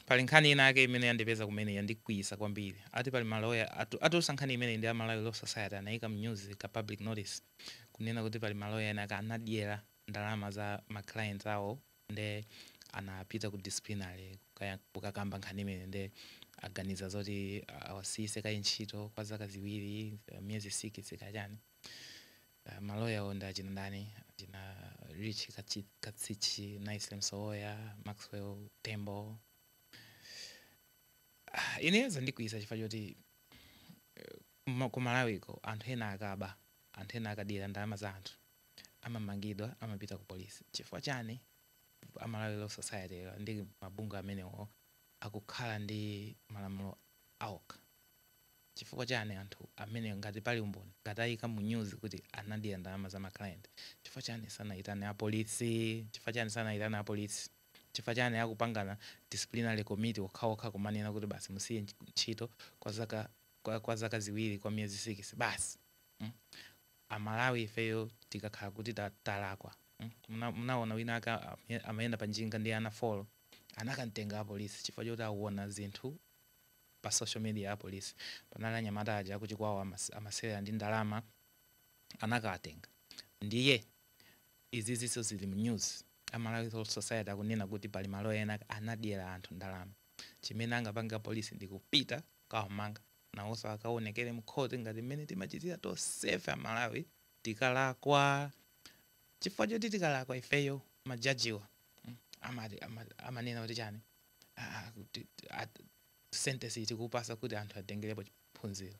Pali nkhani ina yake imene yandipeza kumene yandikwiyisa kwambiri. Ati pali maloya atu, atulusa nkhani imeneyi ndi a Malawi Law Society anayika mnyuzi ka public notice kunena kuti pali maloya ena ake anadyera ndalama za ma clients awo nde anapita ku disciplinary kukayank, kukakamba nkhani imeneyi nde aganiza zoti awasiyise kaye ntchito kwa zaka ziwiri, miyezi sikisi kaya chani. Ah, maloyawo ndi achina ndani achina rich Kachi- katsichi nice msowoya maxwell tembo Ah, ineyo zandikwiyisa chifukwa choti eh, kuma- ku malawiko anthu ena akaba anthu ena akadyera ndalama za anthu amamangidwa amapita ku polisi chifukwa chani amalawi law society yo ndi mabungwe amenewo akukhala ndi malamulo awokha chifukwa chani anthu amene ngati pali umboni ngati ayika mu news kuti anadyera ndalama za ma client chifukwa chani sanayitane a police chifukwa chani sanayitane a police chifukwa chani akupangana disciplinary committee okhaokha kumanena kuti basi musiye ntchito kwa zaka kwa kwa zaka ziwiri kwa miyezi sikisi basi mm a Malawi ifeyo tikakhala kuti ta talakwa mm muna munawona wina ake amay amayenda pa njinga ndi ana folo anakamtenga apolisi chifukwa choti awona zinthu pa social media apolisi panali anyamata aja akuchikwawa amas- amasewera ndi ndalama anakawatenga ndiye izizinso zili mu news amalawi Law society akunena kuti pali maloya ena anadyera anthu ndalama chimene angapange apolisi ndi kupita kawamanga nawonso akaonekere mkhoti ngati mmene timachitira tonsefe amalawi tikalakwa chifukwa choti tikalakwa ifeyo majajiwa mm, amati- ama- amanena kuti chani sentence iyi tikupasa kuti anthu atengerepo phunziro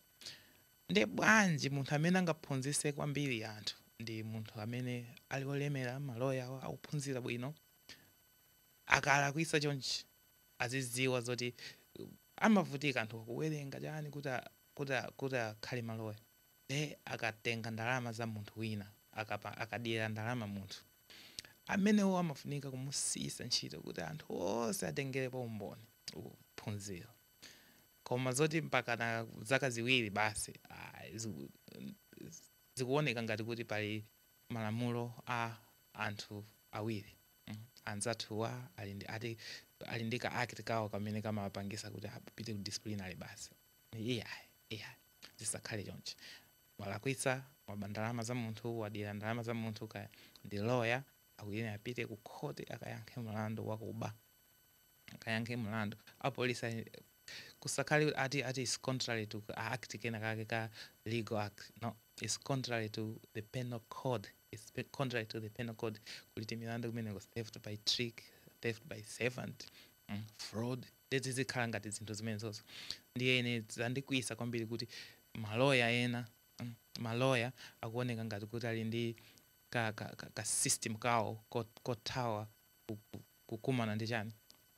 nde bwanji munthu amene angaphunzise kwambiri anthu ndi munthu amene ali olemera maloya awo akuphunzira bwino akalakwisa chonchi aziziwa zoti uh, amavutika anthu kuwerenga chani kuti a- kuti a- kuti akhale maloya nde akatenga ndalama za munthu wina akapa- akadyera ndalama munthu Amenewo amafunika kumusiyitsa ntchito kuti anthu onse atengerepo umboni. Uwu phunziro. Koma zoti mpakana zaka ziwiri basi ayi, zikuoneka ngati kuti pali malamulo a anthu awiri anzathuwa ali ndi ati ali ndi ka act kawo kamene kamapangisa kuti apite ku disciplinary basi. Iyayi, iyayi zisakhale chonchi. walakwitsa waba ndalama za munthu wadyera ndalama za munthu kaya ndi lawyer akuyenera apite ku khoti akayankhe mlandu wakuba akayankhe mlandu apolisi ali- kusakhale kuti ati ati is contrary to a act kena kake ka legal act no is contrary to the penal code is pe- contrary to the penal code kulitu milandu kumeneko theft by trick theft by servant mm, fraud Nde zizikhala ngati zinthu zimenezozo ndiye ine zandikwiyisa kwambiri kuti ma lawyer ena mm ma lawyer akuoneka ngati kuti ali ndi ka ka ka ka system kawo kot kothawa ku ku kukumana ndi chani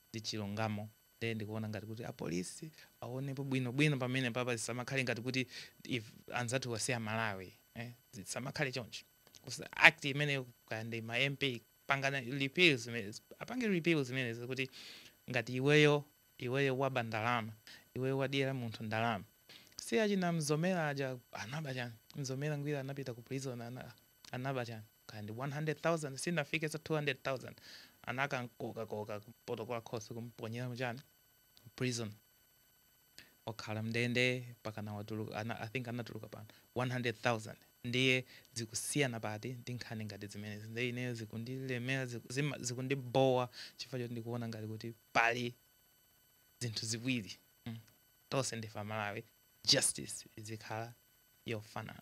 ndi chilungamo nde ndikuona ngati kuti a police awonepo bwino bwino pamenepapa zisamakhale ngati kuti ife anzathuwa si a Malawi eh zisamakhale choncho Kusa act imeneyo kaya ndi ma MP pangani repeal zimenezi apange repeal zimenezi kuti ngati iweyo iweyo waba ndalama iweyo wadyera munthu ndalama si achina mzomera aja anaba chani mzomera ngwira anapita ku prison ana, anaba chani kaya ndi 100000 sinafike za 200000 anakamukokakoka ku protocol course kumponyera muchani prison okhala mndende mpaka anawatulutsa ana, I think anatuluka pano 100,000 ndiye zikusiyana pati ndi nkhani ngati zimenezi nde ineyo zikundilemera ziku- zima- zikundibhowa chifukwa choti ndikuona ngati kuti pali zinthu ziwiri mm. tonse ndife amalawi justice izikhala yofanana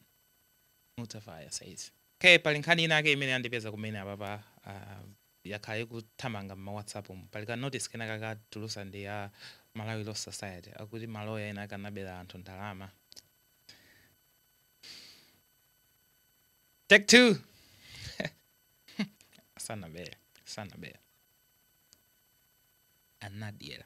Mtavaya says ok pali nkhani inake imene yandipeza kumene apapa uh, yakhala ikuthamanga mma whatsapp umu pali ka notice kena kakatulutsidwa ndi a malawi law society akuti maloya ena akanabera anthu ndalama take two sanabere sanabere anadyera